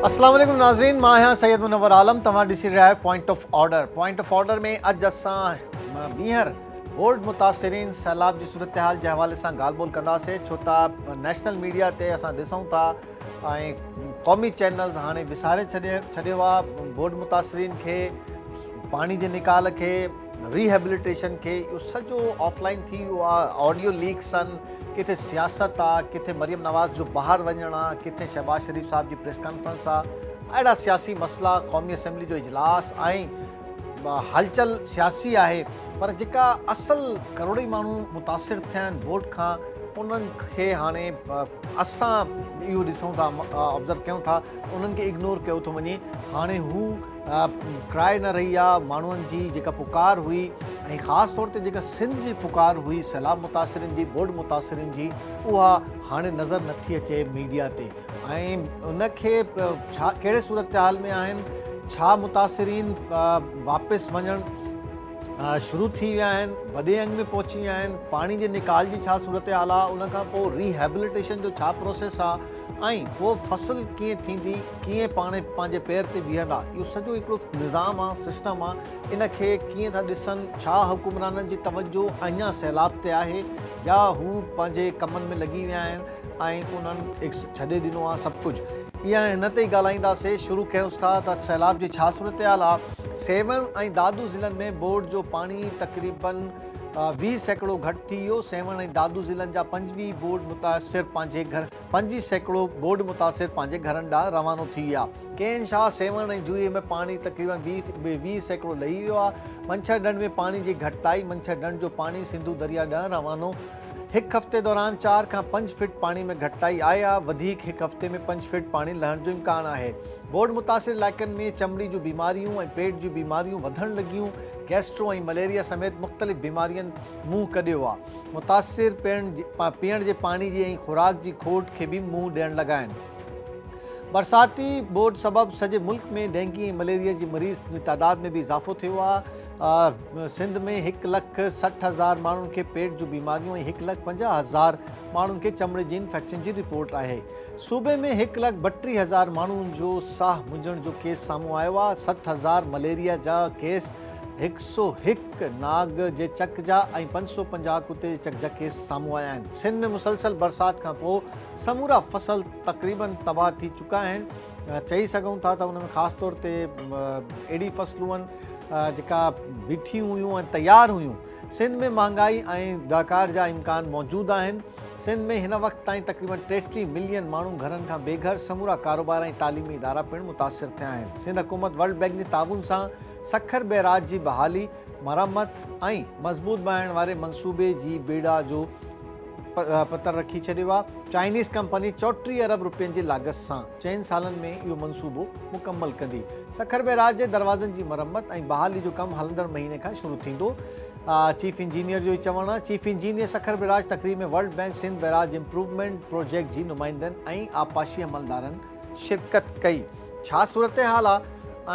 اسلام عليڪم ناظرين مان آهيان سيد منور عالم توهان ڏسي رهيا آهيو point of order point of order ۾ اڄ اسان ٻيهر بورڊ متاثرين سيلاب جي صورتحال جي حوالي سان ڳالهه ٻولهه ڪنداسين ڇو ته نيشنل ميڊيا تي اسان ڏسون ٿا ۽ قومي چينلز هاڻي وساري ڇڏيو آ بوڏ متاثرين کي پاڻي جي نڪال کي ريهبليٽيشن کي اهو سڄو آف لائن ٿي ويو آ آڊيو ليڪس ان ڪٿي سياست آ ڪٿي مريم نواز جو باهر وڃڻ آ ڪٿي شهباز شريف صاحب جي پريس ڪانفرنس آ اهڙا سياسي مسئلا قومي اسيمبلي جو اجلاس ۽ هلچل سياسي آهي پر جيڪا اصل ڪروڙين ماڻهو متاثر ٿيا آهن بوٽ کان انهن کي هاڻي اسان اهو ڏسون ٿا آبزرو ڪيون ٿا انهن کي اگنور ڪيو ٿو وڃي هاڻي هو ڪرائي نه رهي آهي ماڻهن جي جيڪا پڪار هئي ۽ خاص طور تي جيڪا سنڌ جي پڪار هئي سيلاب متاثرين جي بوٽ متاثرين جي اها هاڻي نظر نٿي اچي ميڊيا تي ۽ ان کي ڇا ڪهڙي صورتحال ۾ آهن ڇا متاثرين واپس وڃڻ شروع ٿي ويا آهن وڏي انگ ۾ پهچي ويا آهن پاڻي جي نڪال جي ڇا صورتحال آ ان کان پوء ريهيبليٽيشن جو ڇا پروسيس آ ۽ پوء فصل ڪيئن ٿيندي ڪيئن پاڻ پنهنجي پير تي بيهندا اهو سڄو هڪڙو نظام آ سسٽم آ ان کي ڪيئن ٿا ڏسن ڇا حڪمرانن جي توجه اڃا سيلاب تي آهي يا هو پنهنجي ڪمن ۾ لڳي ويا آهن ۽ انهن ايڪس ڇڏي ڏنو آ سڀ ڪجھ ايئن آهي هن تي ئي ڳالهائيندا سي شروع ڪيونس ٿا ته سيلاب جي ڇا صورتحال آ سيوهڻ ۽ دادو ضلعن ۾ ٻوڙ جو پاڻي تقريبن ويهه سيڪڙو گهٽ ٿي ويو سيوهڻ ۽ دادو ضلعن جا پنجويهه ٻوڙ متاثر پنهنجي گهر پنجويهه سيڪڙو ٻوڙ متاثر پنهنجي گهرن ڏانهن روانو ٿي ويا ڪين شاهه سيوهڻ ۽ جوئي ۾ پاڻي تقريبن ويهه سيڪڙو لهي ويو آ منڇر ڍنڍ ۾ پاڻي جي گهٽتائي منڇر ڍنڍ جو پاڻي سنڌو دريا ڏانهن روانو هڪ هفتي دوران چار کان پنج فٽ پاڻي ۾ گهٽتائي آئي آ، وڌيڪ هڪ هفتي ۾ پنج فٽ پاڻي لهڻ جو امڪان آهي. ٻوڏ متاثر علائقن ۾ چمڙي جون بيماريون ۽ پيٽ جون بيماريون وڌڻ لڳيون، گيسٽرو ۽ مليريا سميت مختلف بيمارين منهن ڪڍيو آ. متاثر پيئڻ جي پاڻي جي ۽ خوراڪ جي کوٽ کي به منهن ڏيڻ لڳا آهن. برساتي ٻوڏ سبب سڄي ملڪ ۾ ڊينگي ۽ مليريا جي مريض جي تعداد ۾ به اضافو ٿيو آ. سنڌ ۾ هڪ لک سٺ هزار ماڻهن کي پيٽ جون بيماريون ۽ هڪ لک پنجاهه هزار ماڻهن کي چمڙي جي انفيڪشن جي رپورٽ آهي صوبي ۾ هڪ لک ٻٽيهه هزار ماڻهن جو ساهه منجهڻ جو ڪيس سامهون آيو آهي سٺ هزار مليريا جا ڪيس هڪ سو هڪ ناگ جي چڪ جا ۽ پنج سو پنجاهه ڪتي جي چڪ جا ڪيس سامهون آيا آهن سنڌ ۾ مسلسل برسات کان پوء سمورا فصل تقريبن تباهه ٿي چڪا آهن چئي سگهون ٿا ته ان ۾ خاص طور تي اهڙي فصلون جيڪا بيٺيون هيون ۽ تيار هيون سنڌ ۾ مهانگائي ۽ ڏاڪار جا امڪان موجود آهن سنڌ ۾ هن وقت تائين تقريبن ٽيٽيهه ملين ماڻهو گهرن کان بي گهر سمورا ڪاروبار ۽ تعليمي ادارا پڻ متاثر ٿيا آهن سنڌ حڪومت ورلڊ بينڪ جي تعاون سان سکر بيراج جي بحالي مرمت ۽ مضبوط بڻائڻ واري منصوبي جي بيڙا جو پتر رکي ڇڏيو آهي چائنيز ڪمپني چوٽيهه ارب روپين جي لاڳت سان چئن سالن ۾ اهو منصوبو مڪمل ڪندي سکر بئراج جي دروازن جي مرمت ۽ بحالي جو ڪم هلندڙ مهيني کان شروع ٿيندو چيف انجينئر جو ئي چوڻ آهي چيف انجينئر سکر بئراج تقريب ۾ World Bank Sindh barrage improvement project جي نمائندن ۽ آبپاشي عملدارن شرڪت ڪئي ڇا صورتحال آ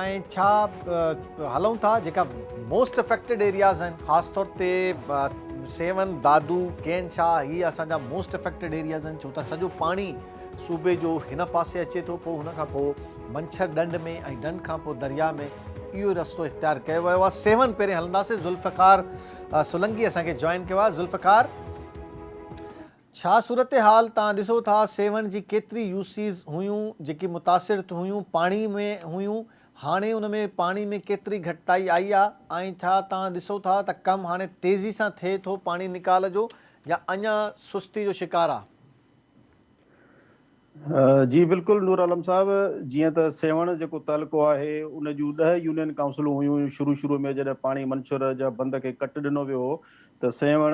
۽ ڇا هلون ٿا جيڪا موسٽ افيڪٽيڊ ايرياز آهن خاص طور تي سيون دادو ڪين شاهه هي اسان جا موسٽ افيڪٽيڊ ايرياز آهن ڇو ته سڄو پاڻي صوبي جو هن پاسي اچي ٿو پوء هن کان پوء منڇر ڏنڊ ۾ ۽ ڏنڊ کان پوء درياء ۾ اهو رستو اختيار ڪيو ويو آ سيون پهرين هلنداسي ذوالفقار سولنگي اسان کي جوائن ڪيو آ ذوالفقار ڇا صورتحال تان ڏسو ٿا سيوهڻ جي ڪيتري يوسيز هيون جيڪي متاثر ٿيون هيون پاڻي ۾ هيون هاڻي ان ۾ پاڻي ۾ ڪيتري گهٽتائي آئي آ ۽ ڇا تان ڏسو ٿا ته ڪم هاڻي تيزي سان ٿئي ٿو پاڻي نيڪال جو يا اڃان سستي جو شڪار آ. جي بلڪل نور عالم صاحب جيئن ته سيوهڻ جيڪو تعلقو آهي ان جون ڏهه يونين ڪائونسلون هيون هيون شروع شروع ۾ جڏهن پاڻي منڇور جا بند کي ڪٽ ڏنو ويو هو ته سيوهڻ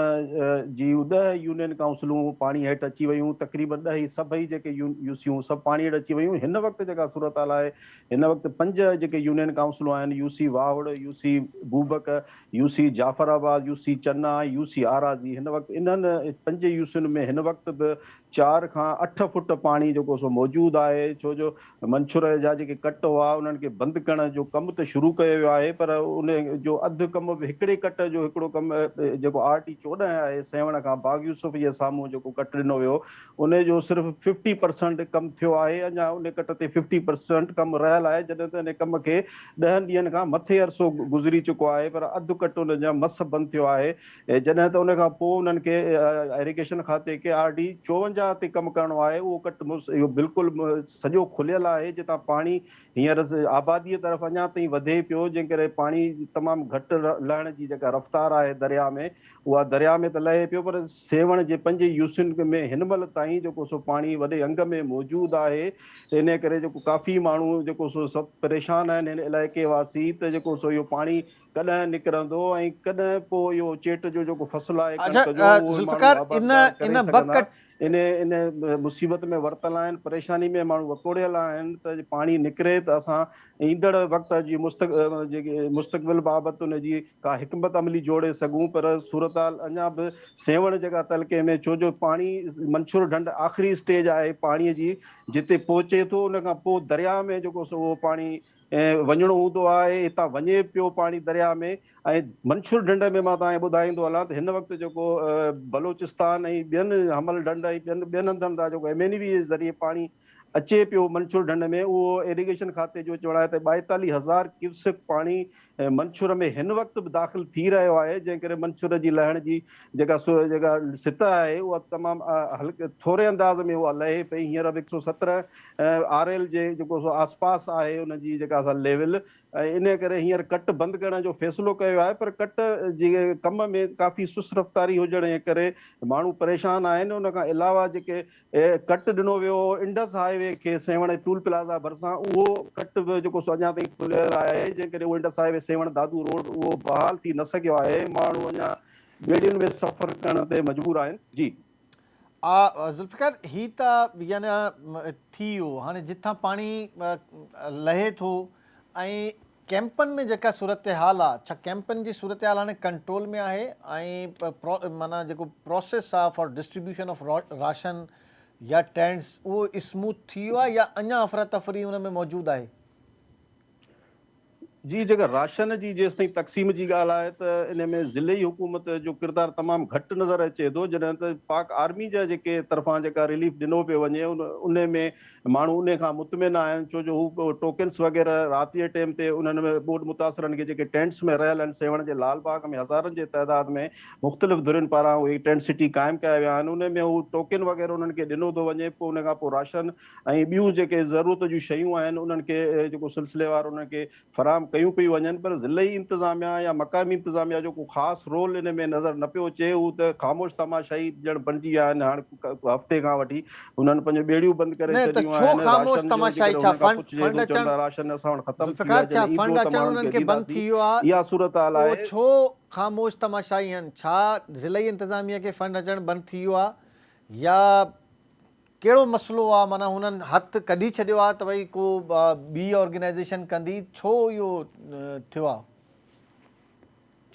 جي ڏهه يونين ڪائونسلون پاڻي هيٺ اچي ويون تقريبن ڏهه ئي سڀئي جيڪي يوسيون سڀ پاڻي هيٺ اچي ويون هن وقت جيڪا صورتحال آهي هن وقت پنج جيڪي يونين ڪائونسلون آهن UC Wahur UC Bobak UC Jafar Abad UC Chana ۽ UC Arazi هن وقت انهن پنج يوسين ۾ هن وقت به چار کان اٺ فوٽ پاڻي جيڪو سو موجود آهي ڇو جو منڇري جا جيڪي ڪٽ هئا انهن کي بند ڪرڻ جو ڪم ته شروع ڪيو ويو آهي پر ان جو اڌ ڪم به هڪڙي ڪٽ جو هڪڙو ڪم جيڪو آر ٽي چوڏهن آهي سيوهڻ کان باغ يوسف جي سامهون جيڪو ڪٽ ڏنو ويو ان جو صرف ففٽي پرسنٽ ڪم ٿيو آهي اڃا ان ڪٽ تي ففٽي پرسنٽ ڪم رهيل آهي جڏهن ته ان ڪم کي ڏهن ڏينهن کان مٿي عرصو گذري چڪو آهي پر اڌ ڪٽ ان جا مس بند ٿيو آهي جڏهن ته ان کان پوء انهن کي ايريگيشن کاتي کي آر ڊي چوونجاهه تي ڪم ڪرڻو آهي اهو ڪٽ مس اهو بلڪل سڄو کليل آهي جتان پاڻي هينئر آبادي طرف اڃا تائين وڌي پيو جنهن ڪري پاڻي تمام گهٽ لهڻ جي جيڪا رفتار آهي درياء ۾ اها درياء ۾ ته لهي پيو پر سيوهڻ جي پنج يوسين ۾ هن مهل تائين جيڪو سو پاڻي وڏي انگ ۾ موجود آهي انهي ڪري جيڪو ڪافي ماڻهو جيڪو سو سڀ پريشان آهن هن علائقي واسي ته جيڪو سو اهو پاڻي ڪڏهن نڪرندو ۽ ڪڏهن پوء اهو چيٽ جو جيڪو فصل آهي ڪڻڪ جو اهو به ماڻهو آبادگار ڪري سگهندا. ان ان مصيبت ۾ ورتل آهن، پريشاني ۾ ماڻهو وڪوڙيل آهن ته پاڻي نڪري ته اسان ايندڙ وقت جي مستقبل بابت ان جي ڪا حڪمت عملي جوڙي سگهون پر صورتحال اڃا به سيوهڻ جيڪا تعلقي ۾ ڇو جو پاڻي منڇور ڍنڍ آخري اسٽيج آهي پاڻي جي جتي پهچي ٿو ان کان پوء درياء ۾ جيڪو سو اهو پاڻي ۽ وڃڻو هوندو آهي هتان وڃي پيو پاڻي درياء ۾ ۽ منڇور ڍنڍ ۾ مان توهان کي ٻڌائيندو هلان ته هن وقت جيڪو بلوچستان ۽ ٻين حمل ڍنڍ ۽ ٻين ٻين هنڌن تان جيڪو ايم اين وي جي ذريعي پاڻي اچي پيو منڇور ڍنڍ ۾ اهو ايريگيشن کاتي جو چوڻ آهي ته ٻائيتاليهه هزار ڪيوسڪ پاڻي منڇور ۾ هن وقت به داخل ٿي رهيو آهي جنهن ڪري منڇور جي لهڻ جي جيڪا جيڪا سطح آهي اها تمام هلڪي ٿوري انداز ۾ اها لهي پئي هينئر به هڪ سؤ سترهن آر ايل جي جيڪو سو آس پاس آهي ان جي جيڪا سا ليول ۽ انهي ڪري هينئر ڪٽ بند ڪرڻ جو فيصلو ڪيو آهي پر ڪٽ جي ڪم ۾ ڪافي سست رفتاري هجڻ جي ڪري ماڻهو پريشان آهن ان کان علاوه جيڪي ڪٽ ڏنو ويو هو انڊس هاء وي کي سيوهڻ ٽول پلازا ڀرسان اهو ڪٽ به جيڪو سو اڃا تائين کليل آهي جنهن ڪري Indus highway Sehwan Dadu road اهو بحال ٿي نه سگهيو آهي ماڻهو اڃا ٻيڙين ۾ سفر ڪرڻ تي مجبور آهن جي. آء ذوالفقار هي ته يعني ٿي ويو هاڻي جتان پاڻي لهي ٿو ۽ ڪيمپن ۾ جيڪا صورتحال آ ڇا ڪيمپن جي صورتحال هاڻي ڪنٽرول ۾ آهي ۽ معنيٰ جيڪو پروسيس آ فار ڊسٽريبيوشن آف راشن يا ٽينٽس اهو اسموٿ ٿي ويو آ يا اڃان افراتفري ان ۾ موجود آهي؟ جي جيڪر راشن جي جيستائين تقسيم جي ڳالهه آهي ته ان ۾ ضلعي حڪومت جو ڪردار تمام گهٽ نظر اچي ٿو جڏهن ته پاڪ آرمي جا جيڪي طرفان جيڪا رليف ڏنو پيو وڃي ان ۾ ماڻهو ان کان مطمئن آهن ڇو جو هو ٽوڪنس وغيره رات جي ٽيم تي انهن ۾ ٻوڏ متاثرن کي جيڪي ٽينٽس ۾ رهيل آهن سيوهڻ جي لال باغ ۾ هزارن جي تعداد ۾ مختلف ڌرين پاران اهي ٽينٽ سٽي قائم ڪيا ويا آهن ان ۾ هو ٽوڪن وغيره انهن کي ڏنو ٿو وڃي پوء ان کان پوء راشن ۽ ٻيون جيڪي ضرورت جون شيون آهن انهن کي جيڪو سلسليوار انهن کي فراهم ڪيون پيون وڃن پر ضلعي انتظاميا يا مقامي انتظاميا جو ڪو خاص رول ان ۾ نظر نه پيو اچي هو ته خاموش تماشائي ڄڻ بڻجي ويا آهن هاڻ هفتي کان وٺي انهن پنهنجون ٻيڙيون بند ڪري ڇڏيون آهن راشن جو جيڪڏهن انهن کان پڇجي ٿو چون ٿا راشن اسان وٽ ختم ٿي ويو آهي جڏهن ايندو ته ماڻهن کي ڏينداسين اها صورتحال آهي خاموش تماشائي آهن ڇا ضلعي انتظاميا کي فنڊ اچڻ بند ٿي ويو آهي يا ڪهڙو مسئلو آ معنيٰ هنن هٿ ڪڍي ڇڏيو آ ته ڀئي ڪو ٻي آرگنائيزيشن ڪندي ڇو اهو ٿيو آ.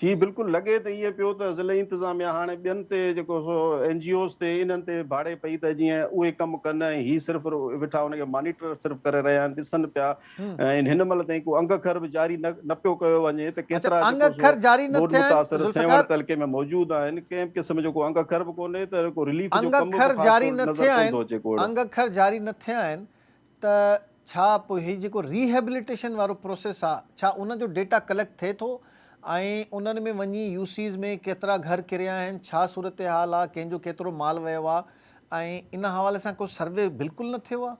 جي بلڪل لڳي ته ائين پيو ته ضلعي انتظاميا هاڻي ٻين تي جيڪو سو اين جي اوز تي انهن تي ڀاڙي پئي ته جيئن اهي ڪم ڪن ۽ هي صرف ويٺا ان کي مانيٽر صرف ڪري رهيا آهن ڏسن پيا ۽ هن مهل تائين ڪو انگ کر به جاري نه پيو ڪيو وڃي ته ڪيترا جيڪو سو ٻوڏ متاثر سيوهڻ تعلقي ۾ موجود آهن ڪنهن به قسم جو ڪو انگ کر به ڪونهي ته ڪو رليف جو ڪم به خاص طور نظر ڪون ٿو اچي ڪوڙ. انگ کر جاري نه ٿيا آهن ته ڇا پوء هي جيڪو ريهيبليٽيشن وارو پروسيس آ ڇا ان جو ڊيٽا ڪليڪٽ ٿئي ٿو ۽ انهن ۾ وڃي يو سيز ۾ ڪيترا گهر ڪريا آهن ڇا صورتحال آ ڪنهن جو ڪيترو مال ويو آ ۽ ان حوالي سان ڪو سروي بلڪل نه ٿيو آ.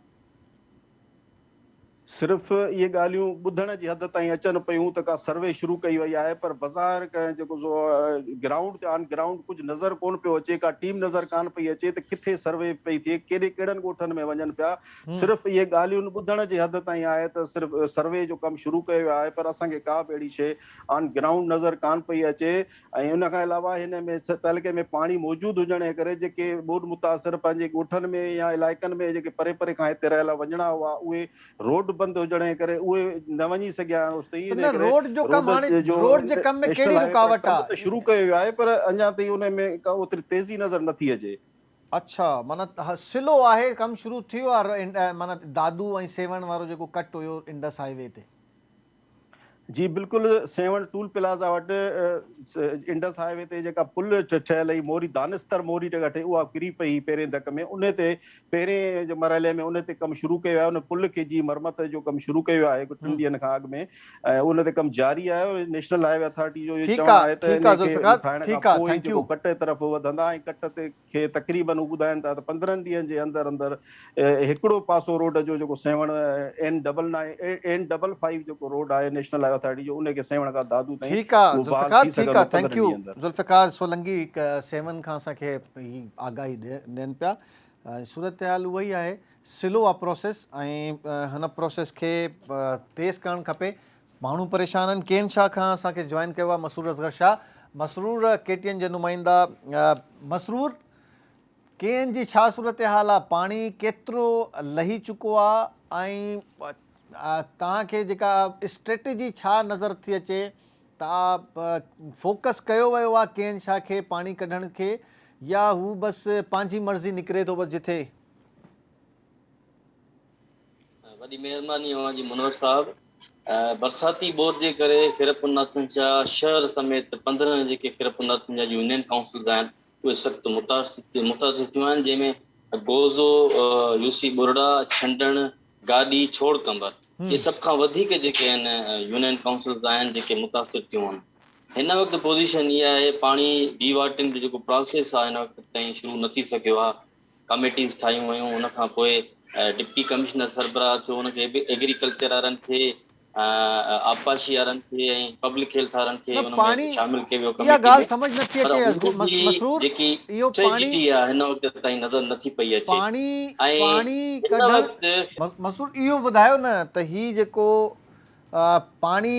صرف اهي ڳالهيون ٻڌڻ جي حد تائين اچن پيون ته ڪا سروي شروع ڪئي وئي آهي پر بظاهر ڪنهن جيڪو سو گرائونڊ تي آن گرائونڊ ڪجهه نظر ڪونه پيو اچي ڪا ٽيم نظر ڪانه پئي اچي ته ڪٿي سروي پئي ٿئي ڪيڏي ڪهڙن ڳوٺن ۾ وڃن پيا صرف اهي ڳالهيون ٻڌڻ جي حد تائين آهي ته صرف سروي جو ڪم شروع ڪيو ويو آهي پر اسان کي ڪا به اهڙي شيء آن گرائونڊ نظر ڪانه پئي اچي ۽ ان کان علاوه هن ۾ تعلقي ۾ پاڻي موجود هجڻ جي ڪري جيڪي ٻوڏ متاثر پنهنجي ڳوٺن ۾ يا علائقن ۾ جيڪي پري پري کان هتي رهيل وڃڻا هئا اهي روڊ بند هجڻ جي ڪري اهي نه وڃي سگهيا آهن اوستائين ان ڪري روڊ جو ڪم هاڻي روڊ جي ڪم ۾ ڪهڙي رڪاوٽ آهي ڪم ته شروع ڪيو ويو آهي پر اڃان تائين ان ۾ ڪا اوتري تيزي نظر نٿي اچي. اڇا معنيٰ سلو آهي ڪم شروع ٿيو آهي معنيٰ دادو ۽ سيوهڻ وارو جيڪو ڪٽ هيو انڊس هاء وي تي. جي بلڪل سيوهڻ ٽول پلازا وٽ انڊس هاء وي تي جيڪا پل ٺهيل هئي موري دانستر موري ٽيڪا ٺهي اها ڪري پئي هئي پهرين ڌڪ ۾ انهي تي پهرين جي مرحلي ۾ انهي تي ڪم شروع ڪيو ويو آهي ان پل کي جي مرمت جو ڪم شروع ڪيو ويو آهي ٽن ڏينهن کان اڳ ۾ ۽ ان تي ڪم جاري آهي نيشنل هاء وي اٿارٽي جو اهو چوڻ آهي ته انهي کي ٺاهڻ کان پوء جيڪو ڪٽ طرف وڌندا ۽ ڪٽ تي کي تقريبن هو ٻڌائين ٿا ته پندرهن ڏينهن جي اندر اندر هڪڙو پاسو روڊ جو جيڪو Sehwan N double nine N double five جيڪو روڊ آهي نيشنل هاء وي اٿارٽي جو ان کي سيوهڻ کان دادو تائين ٺيڪ آ بحال ٿي سگهندو پندرهن ڏينهن اندر. ذوالفقار سولنگي سيوهڻ کان اسان کي هي آگاهي ڏين پيا ۽ صورتحال اها ئي آهي سلو آ پروسيس ۽ هن پروسيس کي تيز ڪرڻ کپي ماڻهو پريشان آهن ڪين شاهه کان اسان کي جوائن ڪيو آهي Masroor Asghar Shah Masroor K T N جي نمائندا مسرور ڪي اين جي ڇا صورتحال آهي پاڻي ڪيترو لهي چڪو آهي ۽ توهان کي جيڪا اسٽريٽجي ڇا نظر ٿي اچي ته فوڪس ڪيو ويو آهي ڪي اين شاهه کي پاڻي ڪڍڻ کي يا هو بس پنهنجي مرضي نڪري ٿو بس جٿي وڏي مهرباني اوهان جي منور صاحب. برساتي ٻوڏ جي ڪري خيرپورناٿن جا شهر سميت پندرهن جيڪي خيرپورناٿن جا يونين ڪائونسلز آهن اهي سخت متاثر ٿيون آهن جنهن ۾ گوزو، يوسي ٻرڙا، ڇنڊڻ، گاڏي، ڇوڙ ڪنبر اهي سڀ کان وڌيڪ جيڪي آهن يونين ڪائونسلز آهن جيڪي متاثر ٿيون آهن. هن وقت پوزيشن اها آهي پاڻي ڊي واٽرنگ جو جيڪو پراسيس آهي هن وقت تائين شروع نه ٿي سگهيو آهي ڪاميٽيز ٺاهيون ويون ان کان پوء ڊپٽي ڪمشنر سربراهه ٿيو ان کي به ايگريڪلچر وارن کي آبپاشي وارن کي ۽ پبلڪ هيلٿ وارن کي ان ۾ شامل ڪيو ويو ڪميٽي ۾ پر ان جي جيڪي اسٽريٽجي آهي هن وقت تائين نظر نٿي پئي اچي ۽ هن وقت مسرور اهو ٻڌايو نه ته هي جيڪو پاڻي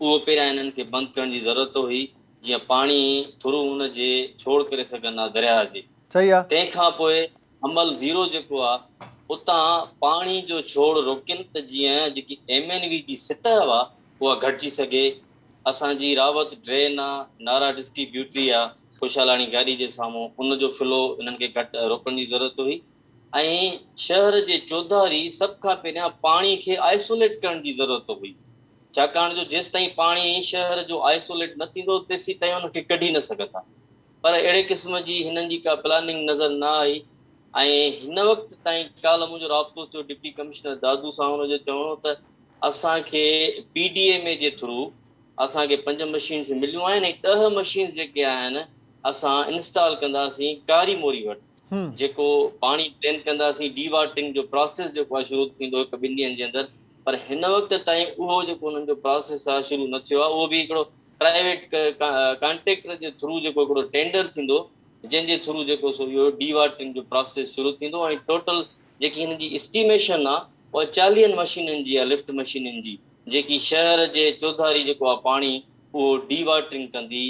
اهو پهريان انهن کي بند ڪرڻ جي ضرورت هئي، جيئن پاڻي ٿرو ان جي ڇوڙ ڪري سگهن ها درياهه جي. صحيح آ. تنهن کان پوء حمل زيرو جيڪو آ اتان پاڻي جو ڇوڙ روڪين ته جيئن جيڪي ايم اين وي جي سطح آ اها گهٽجي سگهي. اسان جي راوت ڊرين آ، نارا ڊسٽي بيوٽري آ، خوشحالاڻي گاڏي جي سامهون ان جو فلو انهن کي گهٽ روڪڻ جي ضرورت هئي ۽ شهر جي چوڌاري سڀ کان پهريان پاڻي کي آئسوليٽ ڪرڻ جي ضرورت هئي. ڇاڪاڻ جو جيستائين پاڻي شهر جو آئسوليٽ نه ٿيندو تيسيتائين ان کي ڪڍي نه سگهندا پر اهڙي قسم جي هنن جي ڪا پلاننگ نظر نه آئي ۽ هن وقت تائين ڪالهه منهنجو رابطو ٿيو ڊپٽي ڪمشنر دادو سان هن جو چوڻ هو ته اسان کي پي ڊي ايم اي جي ٿرو اسان کي پنج مشينز مليون آهن ۽ ڏهه مشينز جيڪي آهن اسان انسٽال ڪنداسين ڪاري موري وٽ جيڪو پاڻي ڊرين ڪنداسين ڊي واٽرنگ جو پراسيس جيڪو آهي شروع ٿيندو هڪ ٻن ڏينهن جي اندر پر هن وقت تائين اهو جيڪو انهن جو پراسيس آهي شروع نه ٿيو آهي اهو به هڪڙو پرائيويٽ ڪانٽريڪٽر جي ٿرو جيڪو هڪڙو ٽينڊر ٿيندو جنهن جي ٿرو جيڪو سو اهو ڊي واٽرنگ جو پراسيس شروع ٿيندو ۽ ٽوٽل جيڪي هن جي اسٽيميشن آهي اها چاليهن مشينن جي آهي لفٽ مشينن جي جيڪي شهر جي چوڌاري جيڪو آهي پاڻي اهو ڊي واٽرنگ ڪندي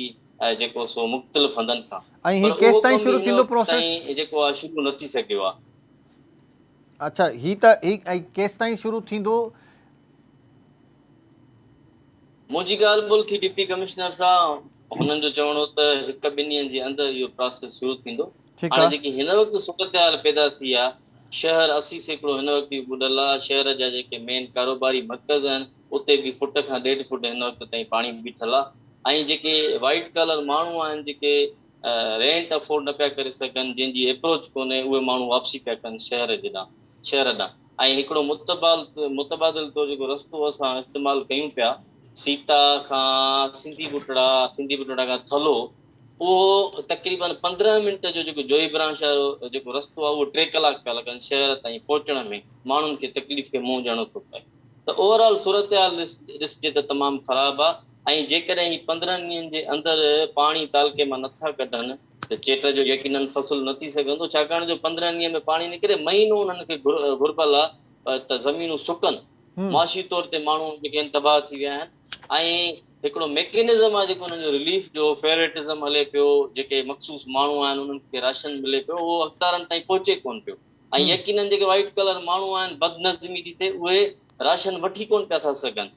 جيڪو سو مختلف هنڌن کان ۽ هي ڪيستائين شروع ٿيندو پروسيس؟ ۽ جيڪو آ شروع نه ٿي سگهيو آ. اڇا هي ته هي ۽ ڪيستائين شروع ٿيندو؟ منهنجي ڳالهه ٻولهه ٿي ڊپٽي ڪمشنر سان هنن جو چوڻ هو ته هڪ ٻن ڏينهن جي اندر اهو پراسيس شروع ٿيندو هاڻي جيڪي هن وقت صورتحال پيدا ٿي آ شهر اسي سيڪڙو هن وقت به ٻڏل آ شهر جا جيڪي مين ڪاروباري مرڪز آهن اتي به فٽ کان ڏيڍ فٽ هن وقت تائين پاڻي بيٺل آهي ۽ جيڪي وائيٽ ڪالر ماڻهو آهن جيڪي رينٽ افورڊ نه پيا ڪري سگهن جنهن جي اپروچ ڪونهي اهي ماڻهو واپسي پيا ڪن شهر جي ڏانهن شهر ڏانهن ۽ هڪڙو متبادل طور جيڪو رستو اسان استعمال ڪيون پيا سيتا کان سنڌي ٻٽڙا سنڌي ٻٽڙا کان ٿلهو اهو تقريبن پندرهن منٽ جو جيڪو جوئي برانش وارو جيڪو رستو آهي اهو ٽي ڪلاڪ پيا لڳن شهر تائين پهچڻ ۾ ماڻهن کي تڪليف کي منهن ڏيڻو ٿو پئي. ته اوور آل صورتحال ڏسجي ته تمام خراب آ ۽ جيڪڏهن هي پندرهن ڏينهن جي اندر پاڻي تعلقي مان نه ٿا ڪڍن ته چيٽ جو يقينن فصل نه ٿي سگهندو ڇاڪاڻ جو پندرهن ڏينهن ۾ پاڻي نڪري مهينو انهن کي گهربل آ ته زمينون سڪن معاشي طور تي ماڻهو جيڪي آهن تباهه ٿي ويا آهن ۽ هڪڙو ميڪنزم آ جيڪو انهن جو رليف جو فيورٽزم هلي پيو جيڪي مخصوص ماڻهو آهن انهن کي راشن ملي پيو اهو حقدارن تائين پهچي ڪونه پيو. ۽ يقينن جيڪي وائيٽ ڪلر ماڻهو آهن بدنظمي ٿي ٿئي اهي راشن وٺي ڪونه پيا ٿا سگهن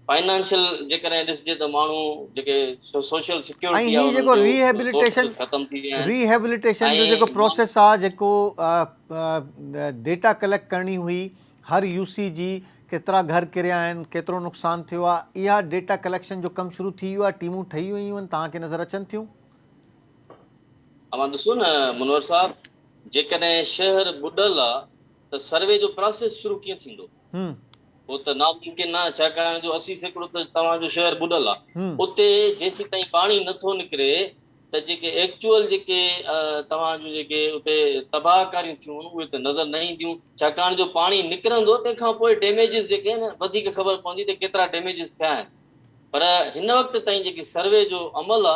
فائنانشل جيڪڏهن ڏسجي ته ماڻهو جيڪي سوشل سيڪيورٽي آهي انهن جو سورسز ختم ٿي ويا آهن ريهيبليٽيشن جو جيڪو پروسيس آهي جيڪو ڊيٽا ڪليڪٽ ڪرڻي هئي هر يو سي جي ڪيترا گهر ڪريا آهن ڪيترو نقصان ٿيو آهي اها ڊيٽا ڪليڪشن جو ڪم شروع ٿي ويو آهي ٽيمون ٺهي ويون آهن توهان کي نظر اچن ٿيون اوهان ڏسو نه منور صاحب جيڪڏهن شهر ٻڏل آ ته سروي جو پراسيس شروع ڪيئن ٿيندو؟ اهو ته ناممڪن ناهي ڇاڪاڻ جو اسي سيڪڙو ته توهان جو شهر ٻڏل آ اتي جيسيتائين پاڻي نٿو نڪري ته جيڪي ايڪچوئل جيڪي توهان جون جيڪي اتي تباهه ڪاريون ٿيون آهن اهي ته نظر نه اينديون ڇاڪاڻ جو پاڻي نڪرندو تنهن کان پوء ڊيميجز جيڪي آهن وڌيڪ خبر پوندي ته ڪيترا ڊيميجز ٿيا آهن پر هن وقت تائين جيڪي سروي جو عمل آ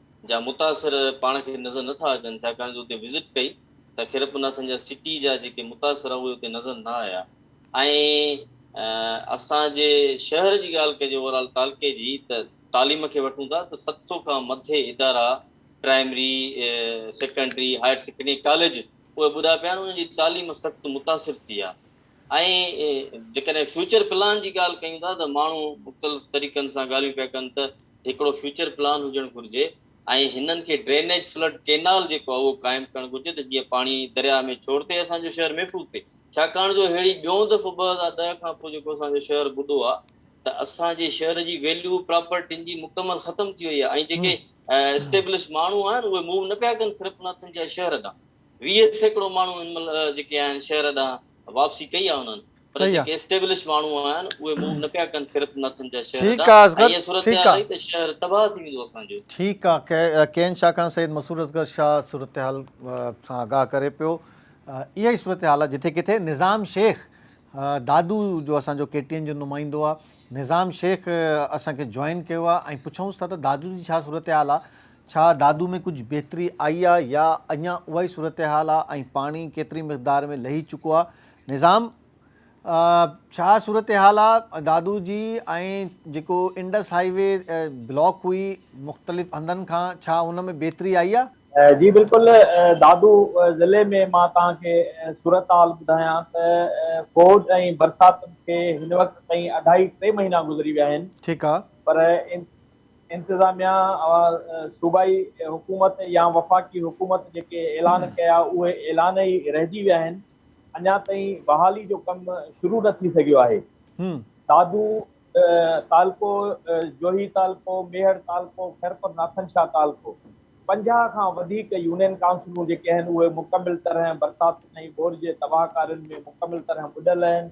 جا متاثر پاڻ کي نظر نه ٿا اچن ڇاڪاڻ جو اتي وزٽ ڪئي ته خيرپناٿن جا سٽي جا جيڪي متاثر اهي اتي نظر نه آيا ۽ اسان جي شهر جي ڳالهه ڪجي اوور آل تعلقي جي ته تعليم کي وٺون ٿا ته ست سو کان مٿي ادارا primary secondary higher secondary colleges اهي ٻڏا پيا آهن انهن جي تعليم سخت متاثر ٿي آهي ۽ جيڪڏهن فيوچر پلان جي ڳالهه ڪيون ٿا ته ماڻهو مختلف طريقن سان ڳالهيون پيا ڪن ته هڪڙو فيوچر پلان هجڻ گهرجي ۽ هنن کي ڊرينيج فلڊ ڪينال جيڪو آهي اهو قائم ڪرڻ گهرجي ته جيئن پاڻي درياهه ۾ ڇوڙ ٿئي اسان جو شهر محفوظ ٿئي ڇاڪاڻ جو ههڙي ٻيون دفعو ٻه هزار ڏهه کان پوء جيڪو اسان جو شهر ٻڏو آهي ته اسان جي شهر جي ويليو پراپرٽين جي مڪمل ختم ٿي وئي آهي ۽ جيڪي اسٽيبلش ماڻهو آهن اهي موو نه پيا ڪن کرپناٿن جي شهر ڏانهن ويهه سيڪڙو ماڻهو هن مهل جيڪي آهن شهر ڏانهن واپسي ڪئي آهي انهن پر جيڪي اسٽيبلش ماڻهو آهن اهي موو نه پيا ڪن صرف نٿن جا شهر ادا ۽ اها صورتحال رهي ته شهر تباهه ٿي ويندو اسان جو. ٺيڪ آ ڪين شاھ کان سيد مسرور اصغر شاھ صورتحال سان آگاھ ڪري پيو اها ئي صورتحال آ جٿي ڪٿي نظام شيخ دادو جو اسان جو ڪي ٽي اين جو نمائندو آ نظام شيخ اسان کي جوائن ڪيو آ ۽ پڇونس ٿا ته دادو جي ڇا صورتحال آ ڇا دادو ۾ ڪجھ بهتري آئي آ يا اڃان اها ئي صورتحال آ ۽ پاڻي ڪيتري مقدار ۾ لهي چڪو آ نظام، ڇا صورتحال آ؟ دادو جي ۽ جيڪو انڊس هائي وي بلاڪ هئي مختلف هنڌن کان ڇا ان ۾ بهتري آئي آ؟ جي بلڪل دادو ضلعي ۾ مان توهان کي صورتحال ٻڌايان ته ٻوڏ ۽ برساتن کي هن وقت تائين اڍائي ٽي مهينا گذري ويا آهن پر انتظاميا صوبائي حڪومت يا وفاقي حڪومت جيڪي اعلان ڪيا اهي اعلان ئي رهجي ويا آهن اڃا تائين بحالي جو ڪم شروع نه ٿي سگهيو آهي دادو تعلقو جوهي تعلقو ميهڙ تعلقو خيرپور ناٿن شاهه تعلقو پنجاهه کان وڌيڪ يونين ڪائونسلون جيڪي آهن اهي مڪمل طرح برساتن ۽ ٻوڏ جي تباهه ڪارين ۾ مڪمل طرح ٻڏل آهن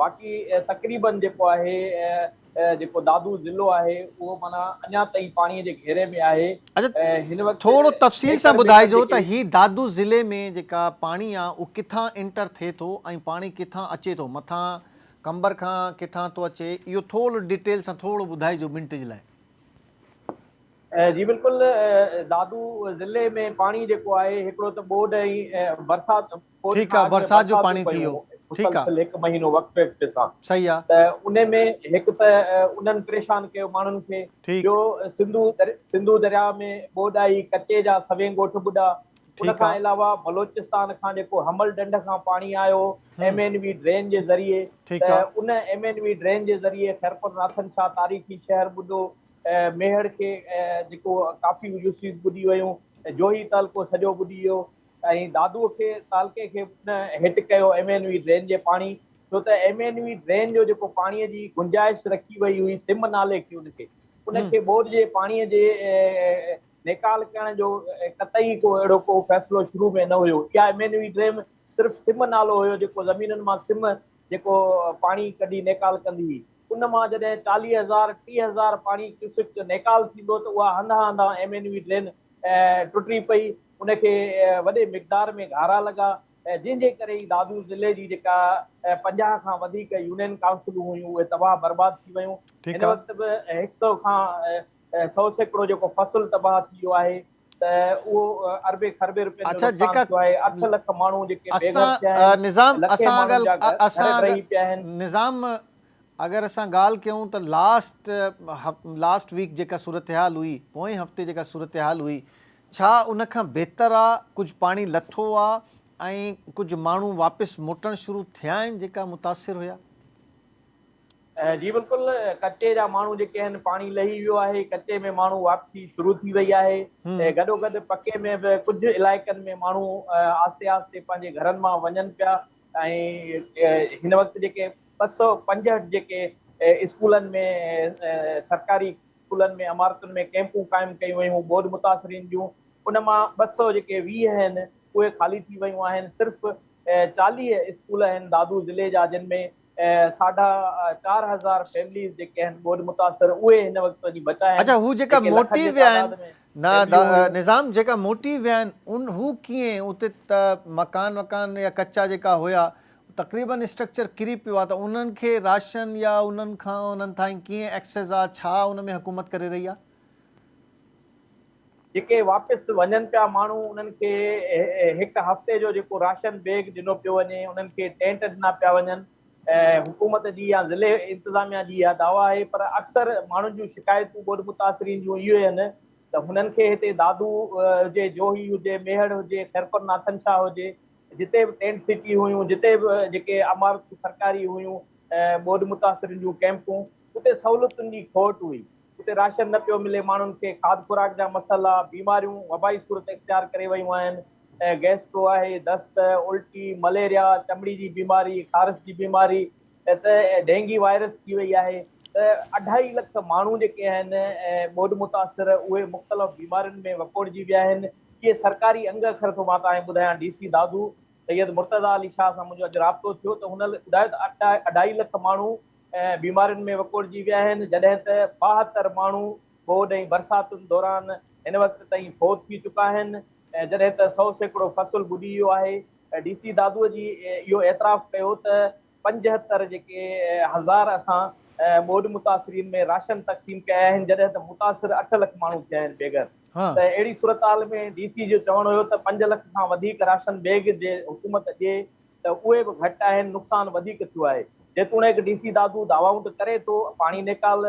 باقي تقريبن جيڪو آهي جيڪو دادو ضلعو آهي اهو معنيٰ اڃا تائين پاڻي جي گهيري ۾ آهي هن وقت ٿورو تفصيل سان ٻڌائجو ته هي دادو ضلعي ۾ جيڪا پاڻي آهي اهو ڪٿان انٽر ٿئي ٿو ۽ پاڻي ڪٿان اچي ٿو مٿان قمبر کان ڪٿان ٿو اچي اهو ٿورو ڊيٽيل سان ٿورو ٻڌائجو منٽ جي لاء. جي بلڪل دادو ضلعي ۾ پاڻي جيڪو آهي هڪڙو ته ٻوڏ ۽ برسات پوري ٺيڪ آ ٺار ۾ برسات جو برساتون پاڻي ٿي ويو پيون ٺيڪ آ مسلسل هڪ مهينو وقفي وقفي سان صحيح آ. ته انهي ۾ هڪ ته انهن پريشان ڪيو ماڻهن کي ٺيڪ ٻيو سنڌو در سنڌو درياء ۾ ٻوڏ آئي ڪچي جا سوين ڳوٺ ٻڏا ان ٺيڪ آ. کان علاوه بلوچستان کان جيڪو حمل ڍنڍ کان پاڻي آيو M hmm N V drain جي ذريعي ٺيڪ ته آ. ان ايم اين وي ڊرين جي ذريعي خيرپور ناٿن شاهه تاريخي شهر ٻڏو ميهڙ کي جيڪو ڪافي يوسيز ٻڏي ويون جوهي تعلقو سڄو ٻڏي ويو ۽ دادوء کي تعلقي کي نه هيٺ ڪيو ايم اين وي ڊرين جي پاڻي ڇو ته ايم اين وي ڊرين جو جيڪو پاڻي جي گنجائش رکي وئي هئي سم نالي کي ان کي ان کي ٻوڏ جي پاڻي جي نيڪال ڪرڻ جو قطعي ڪو اهڙو ڪو فيصلو شروع ۾ نه هيو اها ايم اين وي ڊرين صرف سم نالو هيو جيڪو زمينن مان سم جيڪو پاڻي ڪڍي نيڪال ڪندي هئي ان مان جڏهن چاليهه هزار ٽيهه هزار پاڻي ڪيوسڪ نيڪال ٿيندو ته اها هنڌان هنڌان ايم اين وي ڊرين ٽٽي پئي ان کي وڏي مقدار ۾ گهارا لڳا جنهن جي ڪري ئي دادو ضلعي جي جيڪا پنجاهه کان وڌيڪ يونين ڪائونسلون هيون اهي تباهه برباد ٿي ويون هن وقت به هڪ سئو کان سئو سيڪڙو جيڪو فصل تباهه ٿي ويو آهي ته اهو اربين کربين رپين جو نقصان ٿيو آهي اٺ لک ماڻهو جيڪي بي گهر ٿيا آهن لکين ماڻهن جا گهر ڊهي پيا آهن. نظام اگر اسان ڳالهه ڪيون ته لاسٽ لاسٽ ويڪ جيڪا صورتحال هئي پوئين هفتي جيڪا صورتحال هئي ڇا ان کان بهتر آ ڪجهه پاڻي لٿو آ ۽ ڪجهه ماڻهو واپس موٽڻ شروع ٿيا آهن جيڪا متاثر هيا؟ جي بلڪل ڪچي جا ماڻهو جيڪي آهن پاڻي لهي ويو آهي ڪچي ۾ ماڻهو واپسي شروع ٿي وئي آهي گڏو گڏ پڪي ۾ به ڪجهه علائقن ۾ ماڻهو آهستي آهستي پنهنجي گهرن مان وڃن پيا ۽ هن وقت جيڪي ٻه سؤ پنجهٺ جيڪي اسڪولن ۾ سرڪاري اسڪولن ۾ عمارتن ۾ ڪئمپون قائم ڪيون ويون، ٻوڏ متاثرين جون ان مان ٻه سؤ جيڪي ويهه هن اهي خالي ٿي ويون آهن، صرف چاليهه اسڪول هن دادو ضلعي جا جن ۾ ساڍا چار هزار فيمليز جيڪي هن ٻوڏ متاثر اهي هن وقت وڃي بچا هن اڇا هو جيڪا جيڪي لکن موٽي جي ويا آهن تعداد ۾ نا فيمليون هيون. نظام جيڪا موٽي ويا آهن ان هو ڪيئن اتي ته مڪان وڪان يا ڪچا جيڪا هيا تقريبن اسٽرڪچر ڪري پيو آ ته انهن کي راشن يا انهن کان انهن تائين ڪيئن ايڪسيس آ ڇا ان ۾ حڪومت ڪري رهي آ. جيڪي واپس وڃن پيا ماڻهو انهن کي هڪ هفتي جو جيڪو راشن بيگ ڏنو پيو وڃي انهن کي ٽينٽ ڏنا پيا وڃن حڪومت جي يا ضلعي انتظاميا جي اها دعويٰ آهي پر اڪثر ماڻهن جون شڪايتون ٻوڏ متاثرين جون اهيو آهن ته هنن کي هتي دادو هجي جوهي هجي ميهڙ هجي خيرپور ناٿن شاهه هجي جتي به ٽينٽ سٽي هيون، جتي به جيڪي عمارتون سرڪاري هيون، ٻوڏ متاثرين جون ڪئمپون، اتي سهولتن جي کوٽ هئي، اتي راشن نه پيو ملي، ماڻهن کي کاڌ خوراڪ جا مسئلا، بيماريون وبائي صورت اختيار ڪري ويون آهن، گيسٽرو آهي، دست، الٽي، مليريا، چمڙي جي بيماري، خارس جي بيماري ته ڊينگي وائرس ٿي وئي آهي ته اڍائي لک ماڻهو جيڪي آهن ٻوڏ متاثر اهي مختلف بيمارين ۾ وڪوڙجي ويا آهن، ڪي سرڪاري انگ اکر ٿو مان تهانکي ٻڌايان ڊي سي دادو سيد مرتضيٰ علي شاهه سان منهنجو اڄ رابطو ٿيو ته هن ٻڌايو ته اڍائي لک ماڻهو بيمارين ۾ وڪوڙجي ويا آهن جڏهن ته ٻاهتر ماڻهو ٻوڏ ۽ برساتن دوران هن وقت تائين فوت ٿي چڪا آهن جڏهن ته سئو سيڪڙو فصل ٻڏي ويو آهي ڊي سي دادو جي اهو اعتراف ڪيو ته پنجهتر جيڪي هزار اسان ٻوڏ متاثرين ۾ راشن تقسيم ڪيا آهن جڏهن ته متاثر اٺ لک ماڻهو ٿيا آهن بيگهر ته اهڙي صورتحال ۾ ڊي سي جو چوڻ هيو ته پنج لک کان وڌيڪ راشن بيگ جي حڪومت ڏي ته اهي به گهٽ آهن نقصان وڌيڪ ٿيو آهي جيتوڻيڪ ڊي سي دادو دعوائون ته ڪري ٿو پاڻي نيڪال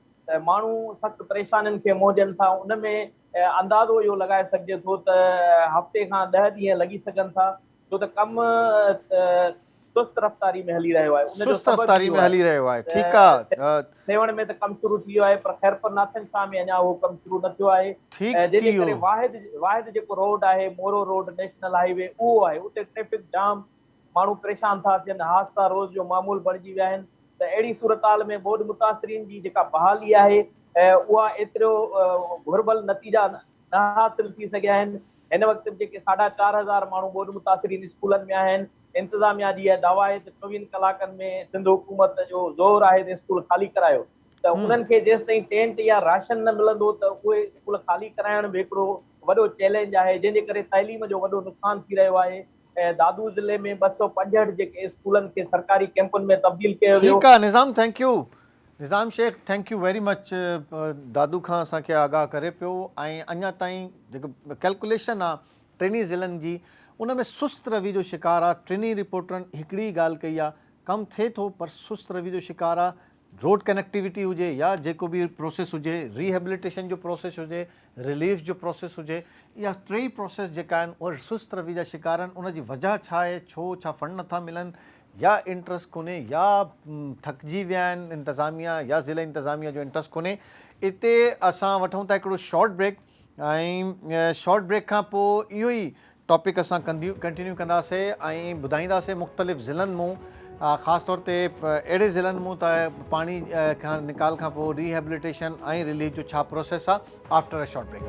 ته ماڻهو سخت پريشانين کي منهجن ٿا ان ۾ اندازو اهو لڳائي سگهجي ٿو ته هفتي کان ڏهه ڏينهن لڳي سگهن ٿا ڇو ته ڪم سست رفتاري ۾ هلي رهيو آهي ان جو سبب ئي اهو آهي ته سيوهڻ ۾ ته ڪم شروع ٿي ويو آهي پر خيرپور ناٿن شاهه ۾ اڃا اهو ڪم شروع نه ٿيو آهي جنهن جي ڪري واحد واحد جيڪو روڊ آهي Moro road national highway اهو آهي اتي ٽريفڪ جام ماڻهو پريشان ٿا ٿين، حادثا روز جو معمول بڻجي ويا آهن ته اهڙي صورتحال ۾ ٻوڏ متاثرين جي جيڪا بحالي آهي اها ايترو گهربل نتيجا نه حاصل ٿي سگهيا آهن، هن وقت به جيڪي ساڍا چار هزار ماڻهو ٻوڏ متاثرين اسڪولن ۾ آهن، انتظاميا جي اها دعويٰ آهي ته چوويهن ڪلاڪن ۾ سنڌ حڪومت جو زور آهي ته اسڪول خالي ڪرايو ته انهن کي جيستائين ٽينٽ يا راشن نه ملندو ته اهي اسڪول خالي ڪرائڻ به هڪڙو وڏو چئلينج آهي جنهن جي ڪري تعليم جو وڏو نقصان ٿي رهيو آهي. دادو ضلعي ۾ ٻه سؤ پنجهٺ جيڪي اسڪولن کي سرڪاري ڪيمپن ۾ تبديل ڪيو ويو. ٺيڪ آ Nizam thank you. Nizam Shaikh thank you very much Dadu کان اسان کي آگاهه ڪري پيو ۽ اڃا تائين جيڪي ڪلڪوليشن آ ٽنهي ضلعن جي ان ۾ سست روي جو شڪار آ ٽنهي رپورٽرن هڪڙي ئي ڳالهه ڪئي آ ڪم ٿئي ٿو پر سست روي جو شڪار آ روڊ ڪنيڪٽيوٽي هجي يا جيڪو به پروسيس هجي، ري هيبليٽيشن جو پروسيس هجي، رليف جو پروسيس هجي، اها ٽيئي پروسيس جيڪا آهن اهي سست روي جا شڪار آهن، ان جي وجهه ڇا آهي، ڇو ڇا فنڊ نٿا ملن يا انٽرسٽ ڪونهي يا ٿڪجي ويا آهن انتظاميا يا ضلعي انتظاميا جو انٽرسٽ ڪونهي، اتي اسان وٺون ٿا هڪڙو شارٽ بريڪ ۽ شارٽ بريڪ کان پوء اهو ئي ٽاپڪ اسان ڪنٽينيو ڪنداسي ۽ ٻڌائينداسي مختلف ضلعن مون خاص طور تي اهڙي ضلعن مون ته پاڻي کان نڪال کان پوء ريهيبليٽيشن ۽ ريليف جو ڇا پروسيس آهي after a short break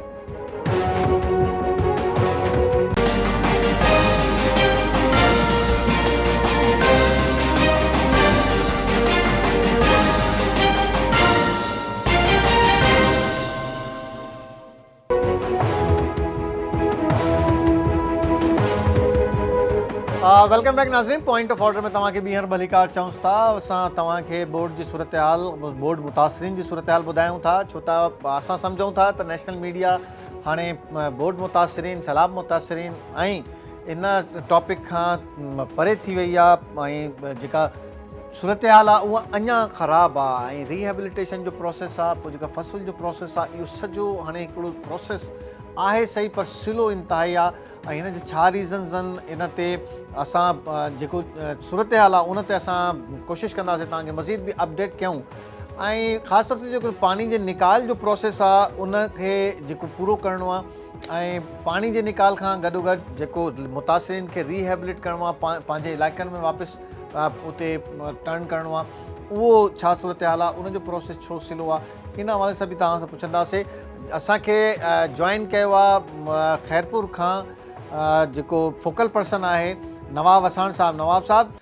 welcome back ناظرين پوائنٽ آف آرڊر ۾ توهان کي ٻيهر ڀليڪار چئون ٿا اسان توهان کي ٻوڏ جي صورتحال ٻوڏ متاثرين جي صورتحال ٻڌايون ٿا ڇو ته اسان سمجهون ٿا ته نيشنل ميڊيا هاڻي ٻوڏ متاثرين سيلاب متاثرين ۽ ان ٽاپڪ کان پري ٿي وئي آهي ۽ جيڪا صورتحال آ اها اڃا خراب آ ۽ ري هيبليٽيشن جو پروسيس آ پوء جيڪا فصل جو پروسيس آ اهو سڄو هاڻي هڪڙو پروسيس آهي صحيح پر سلو انتهائي آ ۽ هن جا ڇا ريزنز ان ان تي اسان جيڪو صورتحال آ ان تي اسان ڪوشش ڪنداسين توهان کي مزيد به اپڊيٽ ڪيون ۽ خاص طور تي جيڪو پاڻي جي نيڪال جو پروسيس آ ان کي جيڪو پورو ڪرڻو آ ۽ پاڻي جي نيڪال کان گڏو گڏ جيڪو متاثرين کي ري هيبليٽ ڪرڻو آ پنهنجي علائقن ۾ واپس اتي ٽرن ڪرڻو آ اهو ڇا صورتحال آ ان جو پروسيس ڇو سلو آ ان حوالي سان به توهان سان پڇنداسي اسان کي جوائن ڪيو آ خيرپور کان جيڪو فوڪل پرسن آهي نواب وساڻ صاحب نواب صاحب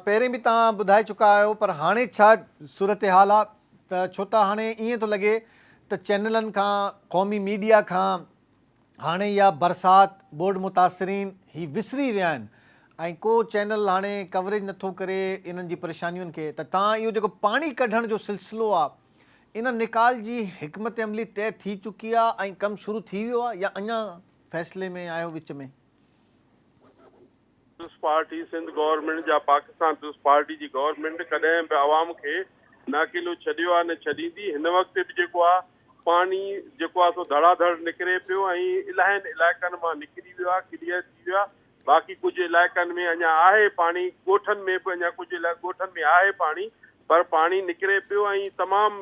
پهرين به توهان ٻڌائي چڪا آهيو پر هاڻي ڇا صورتحال آ ته ڇو ته هاڻي ائين ٿو لڳي ته چينلن کان قومي ميڊيا کان هاڻي اها برسات ٻوڏ متاثرين هي وسري ويا آهن ۽ ڪو چينل هاڻي ڪوريج نٿو ڪري انهن جي پريشانين کي ته تان اهو جيڪو پاڻي ڪڍڻ جو سلسلو آهي ان نيڪال جي حڪمت عملي طئي ٿي چڪي آهي ۽ ڪم شروع ٿي ويو آهي يا اڃان فيصلي ۾ آهي وچ ۾ پيپلز پارٽي سنڌ گورنمينٽ جا پاڪستان پيپلز پارٽي جي گورنمينٽ ڪڏهن به عوام کي نه اڪيلو ڇڏيو آهي نه ڇڏيندي هن وقت به جيڪو آهي پاڻي جيڪو آهي سو ڌڙا ڌڙ نڪري پيو ۽ الاهين علائقن مان نڪري ويو آهي ڪليئر ٿي ويو آهي باقي ڪجهه علائقن ۾ اڃا آهي پاڻي ڳوٺن ۾ به اڃا ڪجهه ڳوٺن ۾ آهي پاڻي پر پاڻي نڪري پيو ۽ تمام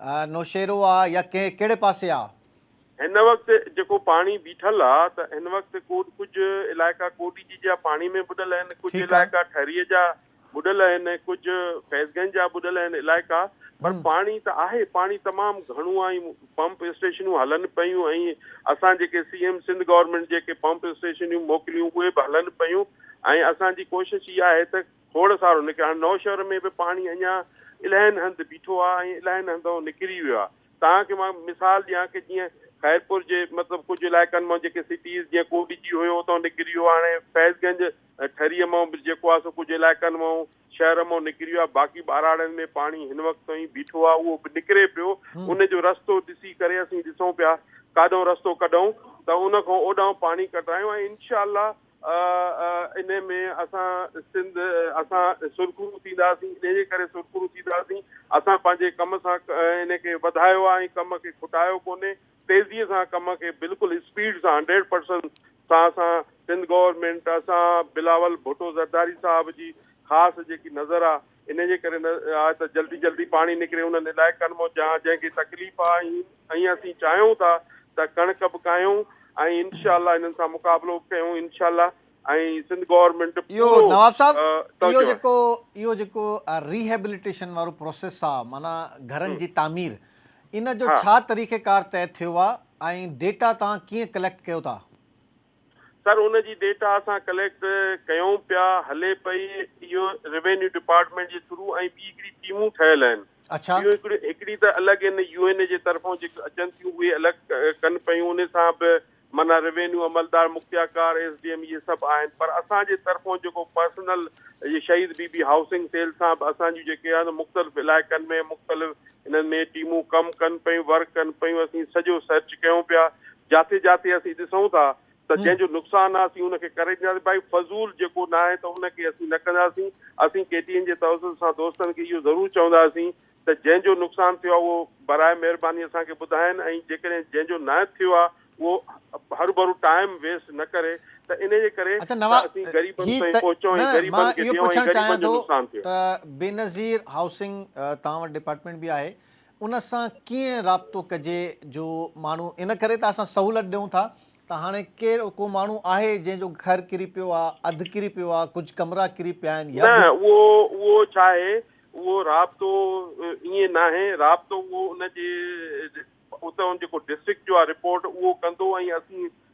آ نوشهرو آ يا ڪنهن ڪهڙي پاسي آ؟ هن وقت جيڪو پاڻي بيٺل آ ته هن وقت ڪوڏ ڪجهه علائقا ڪوڏي جي جا پاڻي ۾ ٻڏل آهن ڪجهه علائقا ٺري جا ٻڏل آهن ڪجهه فيض گنج جا ٻڏل آهن علائقا پر پاڻي ته آهي پاڻي تمام گهڻو آ ۽ پمپ اسٽيشنون هلن پيون ۽ اسان جيڪي سي ايم سنڌ گورنمينٽ جيڪي پمپ اسٽيشنون موڪليون اهي به هلن پيون ۽ اسان جي ڪوشش اها آهي ته کوڙ سارو نڪري هاڻي نوشهر ۾ به پاڻي اڃا الائن هنڌ بيٺو آ ۽ الائن هنڌئون نڪري ويو آ توهان کي مان مثال ڏيان ڪي جيئن خيرپور جي مطلب ڪجهه علائقن مئون جيڪي سٽيز جيئن ڪوٽ جي هيو اتئون نڪري ويو آ هاڻي فيض گنج ٺري مئون به جيڪو آ سو ڪجهه علائقن مئون شهر مئون نڪري ويو آ باقي ٻهراڙين ۾ پاڻي هن وقت تائين بيٺو آ اهو به نڪري پيو ان جو رستو ڏسي ڪري اسين ڏسون پيا ڪاڏئون رستو ڪڍئون ته ان کان اوڏانهن پاڻي ڪڍرايون ۽ انشاء الله آء انهي ۾ اسان سنڌ اسان سرخرو ٿينداسين انهي ڪري سرخرو ٿينداسين اسان پنهنجي ڪم سان انهي کي وڌايو آ ۽ ڪم کي کٽايو ڪونهي تيزي سان ڪم کي بلڪل اسپيڊ سان هنڊريڊ پرسنٽ سان اسان سنڌ گورنمينٽ اسان بلاول ڀٽو زرداري صاحب جي خاص جيڪي نظر آ انهيء جي ڪري نه آهي ته جلدي جلدي پاڻي نڪري انهن علائقن مان جهان جنهن کي تڪليف آهي ۽ اسين چاهيون ٿا ته ڪڻڪ به ڪاهيون ۽ انشاء الله انهن سان مقابلو به ڪيون انشاء الله ۽ سنڌ گورنمينٽ اهو پورو نواب صاحب اهو توجهه جيڪو اهو جيڪو ريهيبليٽيشن وارو پروسيس آ معنيٰ گهرن جي تعمير ان جو ها ڇا طريقه ڪار طئي ٿيو آ ۽ ڊيٽا توهان ڪيئن ڪليڪٽ ڪيو ٿا؟ سر ان جي ڊيٽا اسان ڪليڪٽ ڪيون پيا هلي پئي اهو روينيو ڊپارٽمينٽ جي ٿرو ۽ ٻي هڪڙي ٽيمون ٺهيل آهن اڇا. ٻيون هڪڙي هڪڙي ته الڳ ان يو اين اي جي طرفون جيڪي اچن ٿيون اهي الڳ ڪن پيون انهي سان به معنيٰ روينيو عملدار مکياڪار ايس ڊي ايم اهي سڀ آهن پر اسان جي طرفون جيڪو پرسنل جي شهيد بي بي هائوسنگ سيل سان به اسان جون جيڪي آهن مختلف علائقن ۾ مختلف انهن ۾ ٽيمون ڪم ڪن پيون ورڪ ڪن پيون اسين سڄو سرچ ڪيون پيا جاٿي جاٿي اسين ڏسون ٿا ته جنهن جو نقصان آهي اسين ان کي ڪري ڏينداسين ڀائي فضول جيڪو نه آهي ته ان کي اسين نه ڪنداسين اسين ڪي ٽي اين جي توسط سان دوستن کي اهو ضرور چونداسين ته جنهن جو نقصان ٿيو آهي اهو براء مهرباني اسان کي ٻڌائين ۽ جيڪڏهن جنهن جو نه ٿيو آهي اهو هروڀرو ٽائيم ويسٽ نه ڪري ته انهي جي ڪري ته اسين غريبن تائين پهچون ۽ غريبن کي ڏيون ۽ غريبن جو نقصان ٿئي. بينظير هائوسنگ توهان وٽ ڊپارٽمينٽ به آهي ان سان ڪيئن رابطو ڪجي جو ماڻهو ان ڪري ته اسان سهولت ڏيون ٿا ته هاڻي ڪير ڪو ماڻهو آهي جنهن جو گهر ڪري پيو آ اڌ ڪري پيو آ ڪجهه ڪمرا ڪري پيا آهن يا نه اهو اهو ڇا آهي اهو رابطو ائين ناهي رابطو اهو ان جي اتان جيڪو ڊسٽرڪٽ جو آ رپورٽ اهو ڪندو ۽ اسين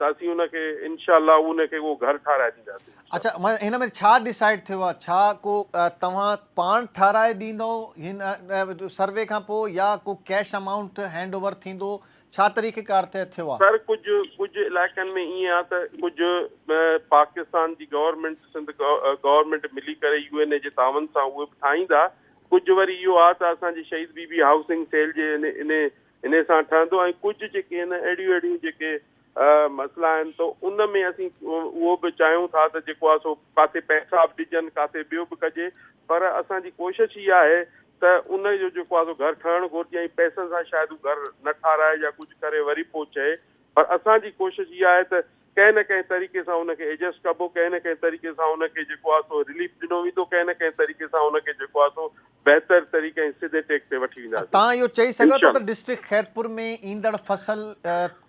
ته اسين ان کي انشاء الله ان کي اهو گهر ٺاهرائي ڏينداسين انشاء الله. اڇا معنيٰ هن ۾ ڇا ڊسائيڊ ٿيو آهي ڇا ڪو توهان پاڻ ٺاهرائي ڏيندؤ هن سروي کان پوء يا ڪو ڪيش امائونٽ هينڊ اوور ٿيندو ڇا طريقه ڪار طئي ٿيو آهي. سر ڪجهه ڪجهه علائقن ۾ ائين آهي ته ڪجهه پاڪستان جي گورنمينٽ سنڌ گورنمينٽ ملي ڪري يو اين اي جي تعاون سان اهي به ٺاهيندا ڪجهه وري اهو آهي ته اسان جي شهيد بي بي هائوسنگ سيل جي ان انهي سان ٺهندو ۽ ڪجهه جيڪي هن اهڙيون اهڙيون جيڪي مسئلا آهن ته ان ۾ اسين اهو به چاهيون ٿا ته جيڪو آهي سو ڪاٿي پئسا به ڏجن ڪاٿي ٻيو به ڪجي پر اسان جي ڪوشش هي آهي ته ان جو جيڪو آهي سو گهر ٺهڻ گهرجي ۽ پئسن سان شايد هو گهر نه ٺاراهي يا ڪجهه ڪري وري پوء چئي پر اسان جي ڪوشش هي آهي ته ڪنهن نه ڪنهن طريقي سان ان کي ايڊجسٽ ڪبو، ڪنهن نه ڪنهن طريقي سان ان کي جيڪو آهي سو رليف ڏنو ويندو، ڪنهن نه ڪنهن طريقي سان ان کي جيڪو آهي سو بهتر طريقي ۽ سڌي ٽيڪ تي وٺي ڇا وينداسين. توهان اهو چئي سگهو ٿا ته انشاءالله. ڊسٽرڪٽ خيرپور ۾ ايندڙ فصل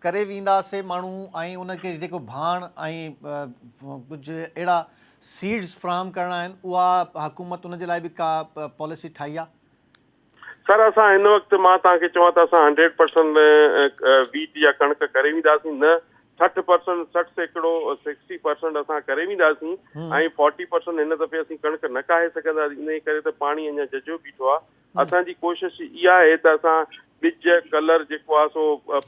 ڪري وينداسي ماڻهو ۽ ان کي جيڪو ڀاڻ ۽ ڪجهه اهڙا سيڊز فراهم ڪرڻا آهن اها حڪومت ان جي لاء به ڪا پاليسي ٺاهي آهي؟ سر اسان هن وقت مان توهان کي چوان ته اسان هنڊريڊ پرسنٽ ويٽ يا ڪڻڪ ڪري وينداسين نه سٺ پرسنٽ سٺ سيڪڙو سڪسٽي پرسنٽ اسان ڪري وينداسين ۽ فورٽي پرسنٽ هن دفعي اسين ڪڻڪ نه ڪاهي سگهنداسين انهي ڪري ته پاڻي اڃا ججهو بيٺو آهي اسان جي ڪوشش اها آهي ته اسان ٻج ڪلر جيڪو آهي سو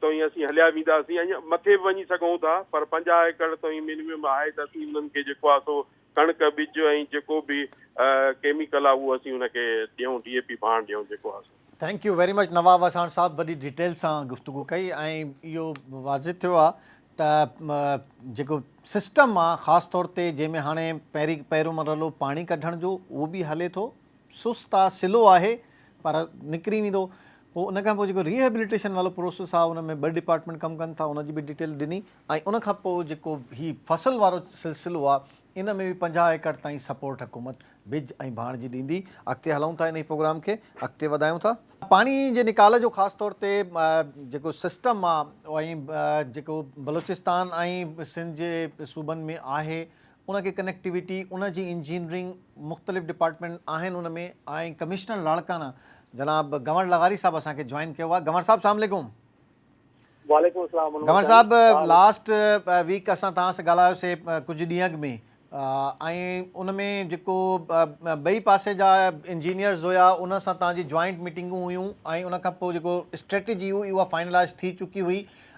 توهين اسين هليا وينداسين ۽ مٿي به وڃي سگهون ٿا پر پنجاهه ايڪڙ توهين مينيمم آهي ته اسين انهن کي جيڪو آهي سو ڪڻڪ ٻج ۽ جيڪو به ڪيميڪل آهي اهو اسين ان کي ڏيون ڊي اي پي ڀاڻ ڏيون جيڪو آهي سو. Thank you very much Nawab Wassan sahib وڏي ڊيٽيل سان گفتگو ڪئي ۽ اهو واضح ٿيو آهي ته جيڪو سسٽم آهي خاص طور تي جنهن ۾ هاڻي پهرين پهريون مرحلو پاڻي ڪڍڻ جو اهو به هلي ٿو سست آ سلو آهي پر نڪري ويندو پوء ان کان پوء جيڪو ري هيبليٽيشن وارو پروسيس آ ان ۾ ٻه ڊپارٽمينٽ ڪم ڪن ٿا ان جي به ڊيٽيل ڏني ۽ ان کان پوء جيڪو هي فصل وارو سلسلو آ ان ۾ به پنجاهه ايڪڙ تائين سپورٽ حڪومت ٻج ۽ ڀاڻ جي ڏيندي اڳتي هلون ٿا انهي پروگرام کي اڳتي وڌايون ٿا. پاڻي جي نيڪال جو خاص طور تي جيڪو سسٽم آ ۽ جيڪو بلوچستان ۽ سنڌ جي صوبن ۾ آهي ان کي ڪنيڪٽيوٽي ان جي انجنيئرنگ مختلف ڊپارٽمينٽ آهن ان ۾ آئين ڪمشنر لاڙڪانا جناب گنور لغاري صاحب اسان کي جوائن ڪيو آهي گنور صاحب سلام عليڪم. وعليڪم السلام منور گنور صاحب لاسٽ ويڪ اسان توهان سان ڳالهايو سي ڪجهه ڏينهن اڳ ۾ ۽ ان ۾ جيڪو ٻئي پاسي جا انجنيئرز هيا ان سان توهان جي جوائنٽ ميٽنگون هيون ۽ ان کان پوء جيڪو اسٽريٽجي هئي اها فائنلائز ٿي چڪي هئي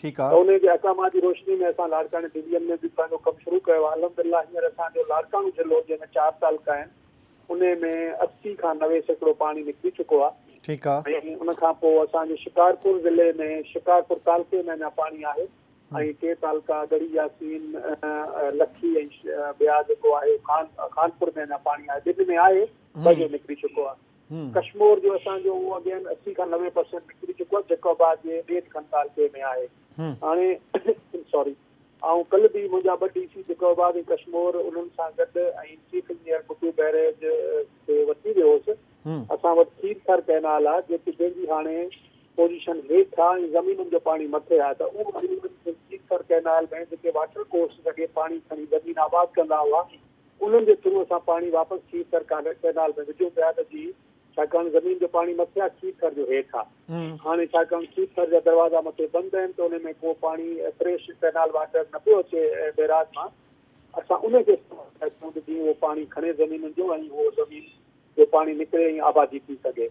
ٺيڪ آ. ته انهيء جي احڪامات جي روشني ۾ اسان لاڙڪاڻي ڊويزن ۾ به پنهنجو ڪم شروع ڪيو آ. الحمدلله هينئر اسان جو لاڙڪاڻو ضلعو جنهن ۾ چار تعلقا آهن انهيء ۾ اسي کان نوي سيڪڙو پاڻي نڪري چڪو آ. ٺيڪ آ. ۽ ان کان پوء اسان جي شڪارپور ضلعي ۾ شڪارپور تعلقي ۾ اڃا پاڻي آهي ۽ ٽي تعلقا ڳڙهي ياسين، لکي ۽ ٻيا جيڪو آهي خان خانپور ۾ اڃا پاڻي آهي. ٻن ۾ آهي ٻه جو نڪري چڪو آ. ڪشمور جو اسان جو اهو اڳهين اسي کان نوي پرسينٽ نڪري چڪو آهي جيڪو آباد جي ڏيڍ کن تعلقي ۾ آهي هاڻي سوري آئون ڪل به منهنجا ٻه ڊي سي جيڪو آباد ۽ ڪشمور انهن سان گڏ ۽ چيف انجنيئر بگو بئريج کي وٺي ويو هوس اسان وٽ کير ٿر ڪئنال آهي جيڪي جنهن جي هاڻي پوزيشن هيٺ آهي ۽ زمينن جو پاڻي مٿي آهي ته اهو کير ٿر ڪئنال ۾ جيڪي واٽر ڪورسز اڳي پاڻي کڻي زمين آباد ڪندا هئا انهن جي ٿرو اسان پاڻي واپس کير ٿر ڪئنال ۾ وجهون پيا ته جي ڇاڪاڻ زمين جو پاڻي مٿي آ کير ٿر جو هيٺ آ هاڻي ڇاڪاڻ کير ٿر جا دروازا مٿي بند آهن ته انهي ۾ ڪو پاڻي فريش ڪئنال واٽر نه پيو اچي بئراج مان اسان انهي کي استعمال پيا ڪيون ته جيئن اهو پاڻي کڻي زمينن جو ۽ اهو زمين جو پاڻي نڪري ۽ آبادي ٿي سگهي.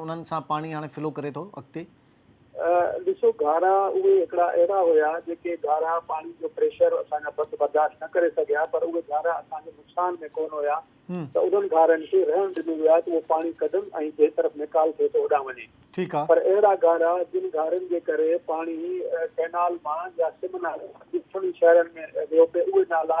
انهن سان پاڻي هاڻي فلو ڪري ٿو اڳتي. ڏسو گهارا اهي هڪڙا اهڙا هيا جيڪي گهارا پاڻي جو پريشر اسان جا بت برداشت نه ڪري سگهيا پر اهي گهارا اسان جي نقصان ۾ ڪونه هيا ته انهن گهارن کي رهڻ ڏنو ويو آهي ته اهو پاڻي ڪڍن ۽ جنهن طرف نيڪال ٿئي ٿو هوڏانهن وڃي پر اهڙا گهارا جن گهارن جي ڪري پاڻي ڪئنال مان يا سمنهن مان ڏکڻي شهرن ۾ ويو پئي اهي نالا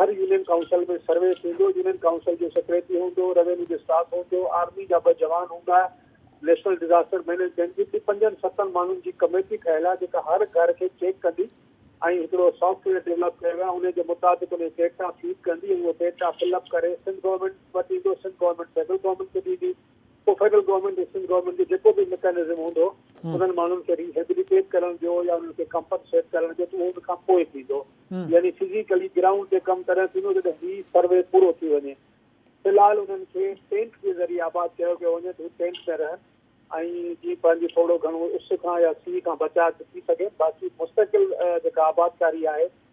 هر يونين ڪائونسل ۾ سروي ٿيندو، يونين ڪائونسل جو سيڪريٽري هوندو، روينيو جو اسٽاف هوندو، آرمي جا ٻه جوان هوندا، نيشنل ڊزاسٽر مئنيجمينٽ جي به پنجن ستن ماڻهن جي ڪميٽي ٺهيل آهي جيڪا هر گهر کي چيڪ ڪندي ۽ هڪڙو سافٽ ويئر ڊولپ ڪيو ويو آهي انهي جي مطابق انهي ڊيٽا فيڊ ڪندي ۽ اهو ڊيٽا فل اپ ڪري سنڌ گورنمينٽ وٽ ايندو، سنڌ گورنمينٽ سينٽرل گورنمينٽ کي ڏيندي. پوء فيڊرل گورنمينٽ ۽ سنڌ گورنمينٽ جو جيڪو به ميڪانزم هوندو انهن ماڻهن کي ري هيبليٽيٽ ڪرڻ جو يا انهن کي ڪمپنسيٽ ڪرڻ جو اهو ان کان پوء ٿيندو يعني فزيڪلي گرائونڊ تي ڪم تڏهن ٿيندو جڏهن هي سروي پورو ٿي وڃي في الحال انهن کي ٽينٽ جي ذريعي آباد ڪيو پيو وڃي ته هو ٽينٽ ۾ رهن ۽ جي پنهنجي ٿورو گهڻو اس کان يا سيء کان بچاء ٿي سگهن باقي مستقل جيڪا آبادڪاري آهي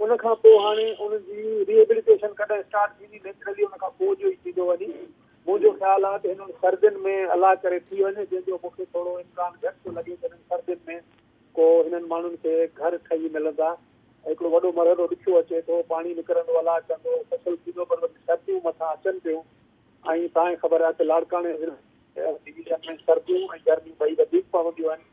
ان کان پوء هاڻي ان جي ري ايبليٽيشن ڪڏهن اسٽارٽ ٿيندي نيچرلي ان کان پوء جو ئي ٿيندو وڃي منهنجو خيال آهي ته هنن سردين ۾ الله ڪري ٿي وڃي جنهن جو مون کي ٿورو امڪان گهٽ ٿو لڳي ته هنن سردين ۾ ڪو هنن ماڻهن کي گهر ٺهي ملندا هڪڙو وڏو مرحلو ڏکيو اچي ٿو پاڻي نڪرندو الله ڪندو فصل ٿيندو پر وڏيون سرديون مٿان اچن پيون ۽ تانئين خبر آهي ته لاڙڪاڻي ضلعي ۾ سرديون ۽ گرميون ٻئي وڌيڪ پونديون آهن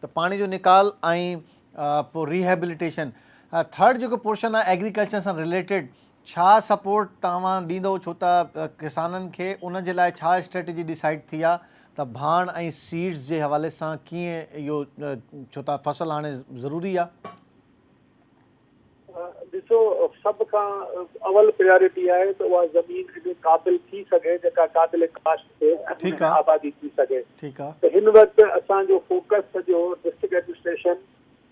ته پاڻي جو نيڪال ۽ پوء ري هيبليٽيشن ٿرڊ جيڪو پورشن آهي ايگريڪلچر سان رليٽيڊ ڇا سپورٽ توهان ڏيندو ڇو ته ڪسانن کي ان جي لاء ڇا اسٽريٽجي ڊيسائيڊ ٿي آهي ته ڀاڻ ۽ سيڊز جي حوالي سان ڪيئن اهو ڇو ته فصل هاڻي ضروري آهي. ڏسو سڀ کان اول پريارٽي آهي ته اها زمين اهڙي قابل ٿي سگهي جيڪا قابل ڪاشت ٿئي ۽ ان ۾ آبادي ٿي سگهي ته هن وقت اسان جو فوڪس سڄو ڊسٽرڪٽ ايڊمنسٽريشن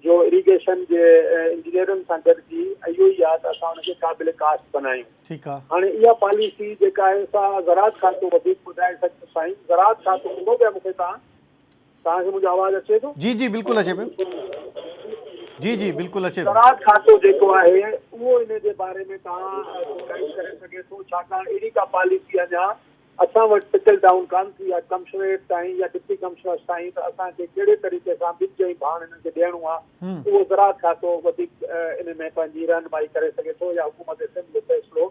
جو اريگيشن جي انجنيئرن سان گڏجي اهو ئي آهي ته اسان ان کي قابل ڪاشت بنايون هاڻي اها پاليسي جيڪا آهي سا زراعت کاتو وڌيڪ ٻڌائي سگهندو سائين زراعت کاتو ان ۾ مون کي تان توهان کي منهنجو آواز اچي ٿو؟ جي جي بلڪل اچي پيو. جي جي بلڪل اچي پيو. زراعت کاتو جيڪو آهي اهو ان جي باري ۾ توهان کي گائيڊ ڪري سگهي ٿو ڇاڪاڻ اهڙي ڪا پاليسي اڃا اسان وٽ ٽرڪل ڊائون ڪانه ٿي آهي ڪمشنريٽ تائين يا ڊپٽي ڪمشنرس تائين ته اسان کي ڪهڙي طريقي سان ٻج ۽ ڀاڻ انهن کي ڏيڻو آهي اهو زراعت کاتو وڌيڪ ان ۾ پنهنجي رهنمائي ڪري سگهي ٿو يا حڪومت سنڌ جو فيصلو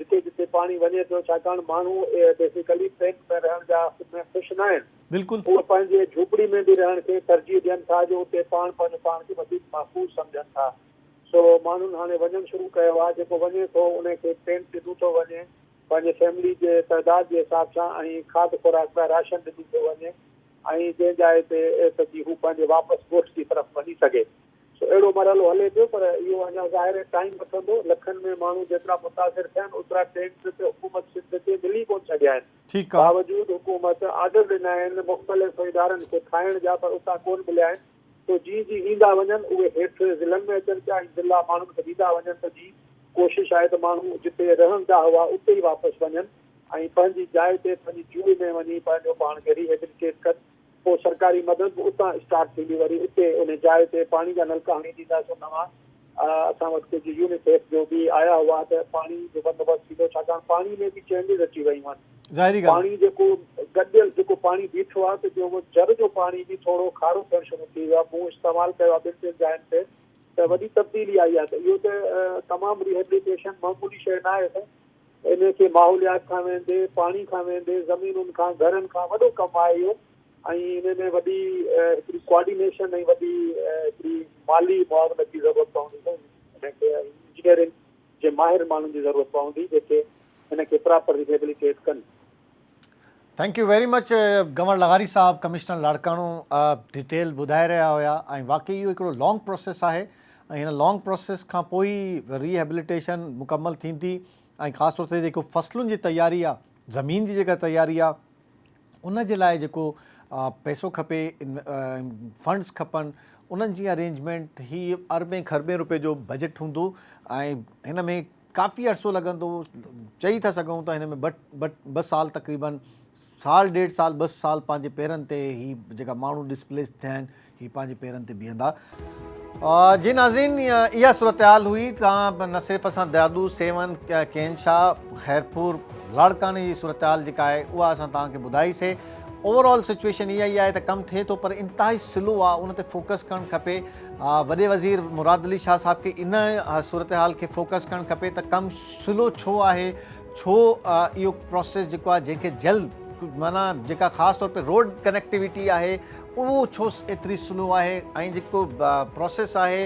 جتي جتي پاڻي وڃي پيو ڇاڪاڻ ماڻهو بيسيڪلي ٽينٽ ۾ رهڻ جا ۾ خوش ناهن. بلڪل. هو پنهنجي جهوپڙي ۾ به رهڻ کي ترجيح ڏين ٿا جو اتي پاڻ پنهنجو پاڻ کي وڌيڪ محفوظ سمجهن ٿا. سو ماڻهن هاڻي وڃڻ شروع ڪيو آهي جيڪو وڃي ٿو ان کي ٽينٽ ڏنو ٿو وڃي پنهنجي فيملي جي تعداد جي حساب سان ۽ کاڌ خوراڪ لاء راشن ڏنو ٿو وڃي ۽ جنهن جاء تي تي جي هو پنهنجي واپس ڳوٺ جي طرف وڃي سگهي. سو اهڙو مرحلو هلي پيو پر اهو اڃا ظاهر ٽائيم وٺندو، لکن ۾ ماڻهو جيترا متاثر ٿيا آهن اوترا ٽينٽ ته حڪومت سنڌ کي ملي ڪونه سگهيا آهن، باوجود حڪومت آرڊر ڏنا آهن مختلف ادارن کي ٺاهڻ جا پر اتان ڪونه مليا آهن، سو جي جي ايندا وڃن اهي هيٺ ضلعن ۾ اچن پيا ۽ ضلعا ماڻهن کي ڏيندا وڃن ته جي ڪوشش آهي ته ماڻهو جتي رهندا هئا اتي ئي واپس وڃن ۽ پنهنجي جاء تي پنهنجي جوء ۾ وڃي پنهنجو پاڻ کي ريهيبليٽيٽ ڪن. پوء سرڪاري مدد به اتان اسٽارٽ ٿيندي وري اتي ان جاء تي پاڻي جا نلڪا هڻي ڏينداسون نوان اسان وٽ ڪجهه يونيسيف جو به آيا هئا ته پاڻي جو بندوبست ٿيندو ڇاڪاڻ پاڻي ۾ به چينجز اچي ويون آهن ظاهري ڳالهه پاڻي جيڪو گڏيل جيڪو پاڻي بيٺو آهي ته جو جر جو پاڻي به ٿورو کارو ٿيڻ شروع ٿي ويو آهي مون استعمال ڪيو آهي ٻن ٽن جاين تي ته وڏي تبديلي آئي آهي ته اهو ته تمام ريهبليٽيشن معمولي شيء ناهي سائين انهن کي ماحوليات کان ويندي، پاڻي کان ويندي، زمينن کان، گهرن کان وڏو ڪم آهي اهو ۽ انهن ۾ وڏي هڪڙي ڪوآرڊينيشن ۽ وڏي هڪڙي مالي معاونت جي ضرورت پوندي ۽ انهن کي انجنيئرنگ جي ماهر ماڻهن جي ضرورت پوندي جيڪي هن کي پراپر ريهيبليٽيٽ ڪن. Thank you very much Ghanwar لغاري صاحب ڪمشنر لاڙڪاڻو ڊيٽيل ٻڌائي رهيا هيا ۽ واقعي اهو هڪڙو لانگ پروسيس آهي ۽ هن لانگ پروسيس کان پوء ئي ري هيبليٽيشن مڪمل ٿيندي ۽ خاص طور تي جيڪو فصلن جي تياري آهي زمين جي جيڪا تياري آهي ان جي لاء جيڪو پيسو کپي فنڊز کپن انهن جي ارينجمنٽ هي اربين کربين روپئي جو بجيٽ هوندو ۽ هن ۾ ڪافي عرصو لڳندو، چئي ٿا سگهون ته هن ۾ ٻه ٻه سال تقريباً سال ڏيڍ سال ٻه سال پنهنجي پيرن تي هي جيڪا ماڻهو ڊسپليس ٿيا آهن هي پنهنجي پيرن تي بيهندا. جي ناظرين اها صورتحال هئي ته نه صرف اسان دادو، سيون، ڪين شاهه، خيرپور، لاڙڪاڻي جي صورتحال جيڪا آهي اها اسان توهان کي ٻڌائي سي اوور آل سچويشن اها ئي آهي ته ڪم ٿئي ٿو پر انتهائي سلو آهي ان تي فوڪس ڪرڻ کپي. وڏي وزير مراد علي شاهه صاحب کي ان صورتحال کي فوڪس ڪرڻ کپي ته ڪم سلو ڇو آهي ڇو اهو پروسيس جيڪو آهي جنهن کي جلد معنيٰ جيڪا خاص طور تي روڊ ڪنيڪٽيويٽي آهي اهو ڇو ايتري سلو آهي ۽ جيڪو پروسيس آهي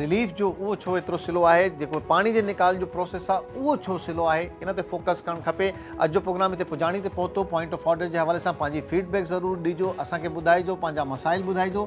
رليف جو اهو ڇو ايترو سلو آهي جيڪو پاڻي جي نڪال جو پروسيس آهي اهو ڇو سلو آهي ان تي فوڪس ڪرڻ کپي اڄ جو پروگرام هتي پڄاڻي تي پهتو پوائنٽ آف آرڊر جي حوالي سان پنهنجي فيڊبيڪ ضرور ڏجو اسان کي ٻڌائجو پنهنجا مسائل ٻڌائجو